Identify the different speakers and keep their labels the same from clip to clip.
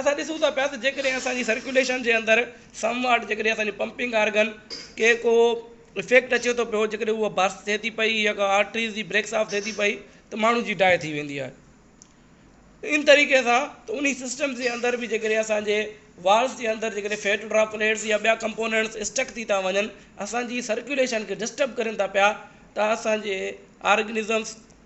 Speaker 1: اسان ڏسون ٿا پيا ته جيڪڏهن اسان جي سرڪيوليشن جي اندر سم واٽ جيڪڏهن اسان جي پمپنگ آرگن کي ڪو افيڪٽ اچي ٿو پيو جيڪڏهن هو برسٽ ٿئي ٿي پئي يا ڪا آرٽريز جي بريڪ صاف ٿئي ٿي پئي ته ماڻهو جي ڊائي ٿي ويندي آهي ته ان طريقي سان ته انهي سسٽمز جي اندر به جيڪڏهن اسان جي والز جي اندر جيڪڏهن فيٽ ڊراپ پليٽس يا ٻيا ڪمپونينٽس اسٽڪ ٿي ٿا وڃن اسان جي سرڪيوليشن کي ڊسٽرب ڪرين ٿا پيا ته اسان جي آرگنزمز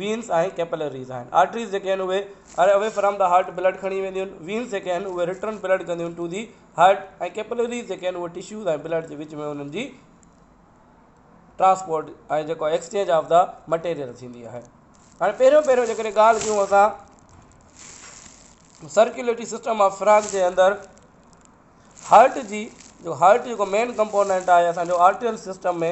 Speaker 1: وينس ۽ ڪيپلريز آهن. آرٽريز جيڪي آهن اهي are away from the heart blood کڻي وينديون آهن. وينس جيڪي آهن اهي رٽرن بلڊ ڪنديون ٽو دي هارٽ ۽ ڪيپلريز جيڪي آهن اهي ٽشوز ۽ بلڊ جي وچ ۾ انهن جي ٽرانسپورٽ ۽ جيڪو ايڪسچينج آف دي مٽيريل ٿيندي آهي. هاڻي پهريون پهريون جيڪڏهن ڳالهه ڪيون اسان سرڪيوليٽري سسٽم آف فراگ جي اندر هارٽ جي جو هارٽ جيڪو مين ڪمپونينٽ آهي اسان جو آرٽريل سسٽم ۾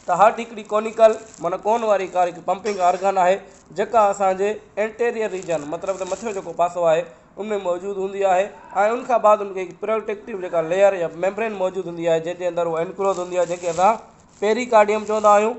Speaker 1: ته هارٽ هڪڙي ڪونيڪل معنيٰ ڪون واري ڪار هڪ پمپنگ آرگن آهي جيڪا اسان جي انٽيريئر ريجن مطلب ته مٿيون جيڪو پاسو آهي ان ۾ موجود هوندي آهي ۽ ان کان بعد ان کي هڪ پروٽيڪٽو جيڪا ليئر يا ميمبرين موجود هوندي آهي جنهن جي اندر هو انڪلوز هوندي آهي جنهن کي اسان پيري ڪارڊيم چوندا آهيون.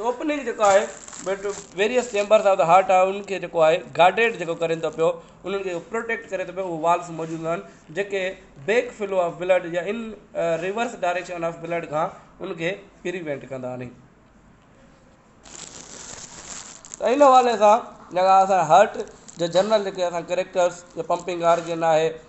Speaker 1: اوپننگ جيڪو آهي various chambers of the heart آهي انهن کي جيڪو آهي گارڊيڊ جيڪو ڪرين ٿو پيو انهن کي پروٽيڪٽ ڪري ٿو پيو اهي والز موجود هوندا آهن جيڪي بيڪ فلو آف بلڊ يا in reverse direction of blood کان ان کي پريوينٽ ڪندا آهن ته ان حوالي سان جيڪا اسان هارٽ جي جنرل جيڪي اسان ڪريڪٽرس جي پمپنگ آرگن آهي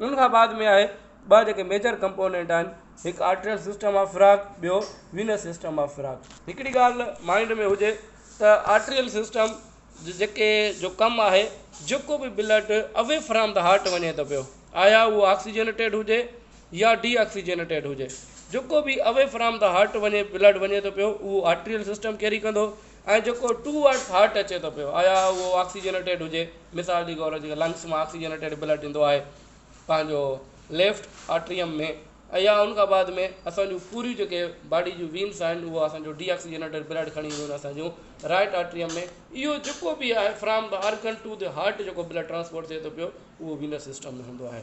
Speaker 1: انهن کان بعد ۾ آهي ٻه جيڪي ميجر ڪمپونينٽ آهن هڪ آرٽريل سسٽم آف فراڪ ٻيو وينس سسٽم آف فراڪ هڪڙي ڳالهه مائنڊ ۾ هجي ته آرٽريل سسٽم جي جيڪي جو ڪم آهي جيڪو به blood away from the heart وڃي ٿو پيو آيا هو آڪسيجنٽيڊ هجي يا ڊي آڪسيجنٽيڊ هجي جيڪو به اوي فرام د هارٽ وڃي بلڊ وڃي ٿو پيو اهو آرٽريل سسٽم ڪيري ڪندو ۽ جيڪو ٽو ورڊس هارٽ اچي ٿو پيو آيا اهو آڪسيجنيٽيڊ هجي مثال جي گور جيڪي لنگس مان آڪسيجنيٽيڊ بلڊ ڏيندو آهي پنهنجو ليفٽ آرٽريم ۾ ايا ان کان بعد ۾ اسانجو پوري جيڪي باڊي جون وينس آهن اهو اسانجو ڊي آڪسيجنيٽيڊ بلڊ کڻي اينديون آهن اسانجو رائٽ آرٽريم ۾ اهو جيڪو به آهي from the organ to the heart جيڪو بلڊ ٽرانسپورٽ ٿئي ٿو پيو اهو وينس سسٽم ۾ هوندو آهي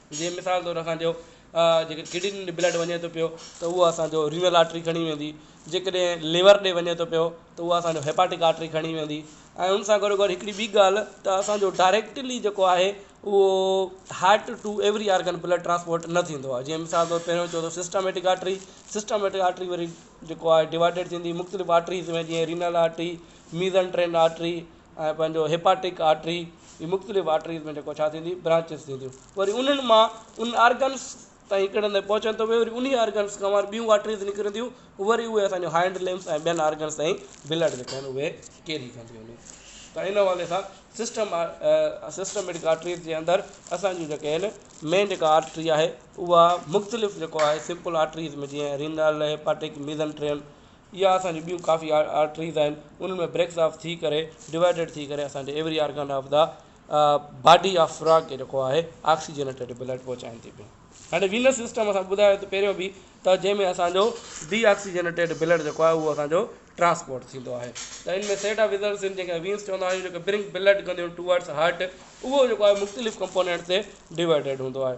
Speaker 1: جيئن مثال طور اسان چيو جيڪڏهن ڪڊنين ڏي بلڊ وڃي ٿو پيو ته اهو اسان جو رينل آرٽري کڻي ويندي جيڪڏهن ليور ڏي وڃي ٿو پيو ته اهو اسان جو هيپاٽڪ آرٽري کڻي ويندي ۽ ان سان گڏو گڏ هڪڙي ٻي ڳالهه ته اسان جو ڊائريڪٽلي جيڪو آهي اهو heart to every organ blood transport نه ٿيندو آهي جيئن مثال طور پهريون چيو سسٽميٽڪ آرٽري سسٽميٽڪ آرٽري وري جيڪو آهي ڊوائڊيڊ ٿيندي مختلف آرٽريز ۾ جيئن رينل آرٽري ميزنٽرين آرٽري ۽ پنهنجو هيپاٽڪ آرٽري جي مختلف آرٽريز ۾ جيڪو ڇا ٿيندي برانچز ٿينديون وري انهن مان ان آرگنز تائين ڪهڙي هنڌ پهچن ٿو وري انهي آرگنز کان ٻيون آرٽريز نڪرنديون وري اهي اسان جون هائنڊ لمبس ۽ ٻين آرگنز تائين بلڊ جيڪي آهن اهي ڪيري ڪنديون آهن ته ان حوالي سان سسٽم سسٽميٽڪ آرٽريز جي اندر اسان جون جيڪي آهن مين جيڪا آرٽري آهي اها مختلف جيڪو آهي سمپل آرٽريز ۾ جيئن رينال هيپاٽڪ ميزنٽرين اها اسان جون ٻيون ڪافي آرٽريز آهن انهن ۾ بريڪس آف ٿي ڪري ڊوائڊيڊ ٿي ڪري اسان جي every organ of the body of frog کي جيڪو آهي آڪسيجنيٽيڊ بلڊ پهچائن ٿي پيون هاڻي وينس سسٽم اسان ٻڌايو ته پهريون بي ته جنهن ۾ اسانجو ڊي آڪسيجنيٽيڊ بلڊ جيڪو آهي اهو اسانجو ٽرانسپورٽ ٿيندو آهي ته ان ۾ سيٽ آف ويزلس آهن جنهن کي وينس چوندا آهيون جيڪو برنگ بلڊ ڪنديون ٽوورڊس هارٽ اهو جيڪو آهي مختلف ڪمپونينٽ تي ڊوائڊيڊ هوندو آهي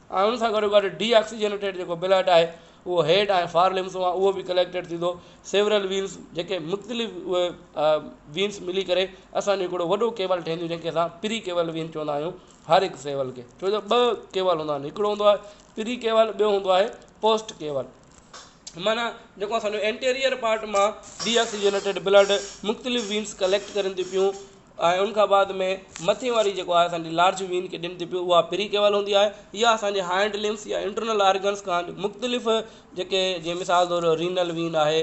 Speaker 1: ۽ ان سان گڏو گڏ ڊي آڪسيجنيٽيڊ جيڪو بلڊ آهي اهو هيڊ ۽ فار لمس مان اهو به ڪليڪٽيڊ ٿيندو سيورل وينس جيڪي مختلف اهي وينس ملي ڪري اسانجو هڪڙو وڏو ڪيول ٺهنديون جنهن کي اسان پري ڪيول وين چوندا آهيون هر هڪ سيول کي ڇو جو ٻه ڪيول هوندا آهن هڪڙو هوندو آهي پري ڪيول ٻيو هوندو آهي پوسٽ ڪيول معنيٰ جيڪو اسانجو انٽيريئر پارٽ مان ڊي آڪسيجنيٽيڊ بلڊ مختلف وينس ڪليڪٽ ڪرين ٿي پيون ۽ ان کان بعد ۾ مٿين واري جيڪو آهي اسان جي لارج وين ڪي ڏني ٿي پيو اها پري ڪيول هوندي آهي يا اسان جي هائنڊ لمس يا انٽرنل آرگنس کان مختلف جيڪي جي مثال طور رينل وين آهي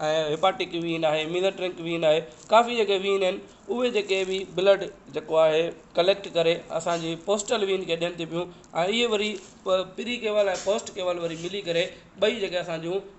Speaker 1: ۽ هيپاٽڪ وين آهي ميزل ٽرنڪ وين آهي ڪافي جيڪي وين آهن اهي جيڪي بي بلڊ جيڪو آهي ڪليڪٽ ڪري اسان جي پوسٽل وين کي ڏين ٿي پيون ۽ اهي وري پ پري ڪيول ۽ پوسٽ ڪيول وري ملي ڪري ٻئي جيڪي اسان جون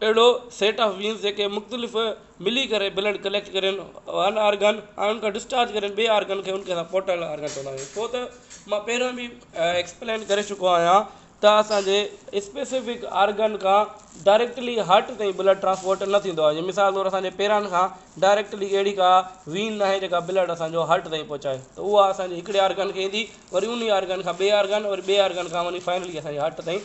Speaker 1: اهڙو سيٽ آف وينز جيڪي مختلف ملي ڪري بلڊ ڪليڪٽ ڪرين ون آرگن ۽ ان کان ڊسچارج ڪرين ٻئي آرگن کي ان کي اسان پورٽل آرگن چوندا آهيون ڇو ته ما پهريون به ايڪسپلين ڪري چڪو آهيان ته اسانجي اسپيسفڪ آرگن کان ڊائريڪٽلي هارٽ تائين بلڊ ٽرانسپورٽ نه ٿيندو آهي مثال طور اسانجي پيرن کان ڊائريڪٽلي اهڙي ڪا وين ناهي جيڪا بلڊ اسانجو هارٽ تائين پهچائي ته اها اسانجي هڪڙي آرگن کي ايندي وري انهي آرگن کان ٻئي آرگن وري ٻئي آرگن کان وڃي فائنلي اسانجي هارٽ تائين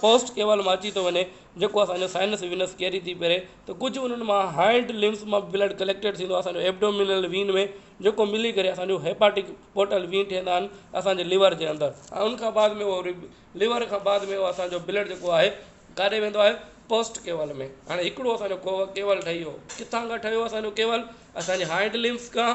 Speaker 1: پوسٽ ڪيول مان اچي ٿو وڃي جيڪو اسان جو سائنس وينس ڪيري ٿي پري ته ڪجهه انهن مان هائنڊ لمبس مان بلڊ ڪليڪٽيڊ ٿيندو آهي اسان جو ابڊومينل وين ۾ جيڪو ملي ڪري اسان جو هيپاٽڪ پورٽل وين ٺهندا آهن اسان جي ليور جي اندر ۽ ان کان بعد ۾ وري ليور کان بعد ۾ اسان جو بلڊ جيڪو آهي ڪاڏي ويندو آهي پوسٽ ڪيول ۾ هاڻي هڪڙو اسان جو ڪيول ٺهي ويو ڪٿان کان ٺهيو اسان جو ڪيول اسان جي هائنڊ لمبس کان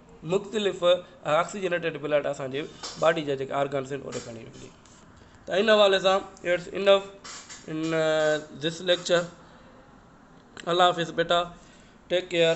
Speaker 1: مختلف آڪسيجنيٽيڊ بلڊ اسان جي باڊي جا جيڪا آرگنس آهن اوڏي کڻي وڃي ته ان حوالي سان it's enough in this lecture الله حافظ بيٽا ٽيڪ ڪيئر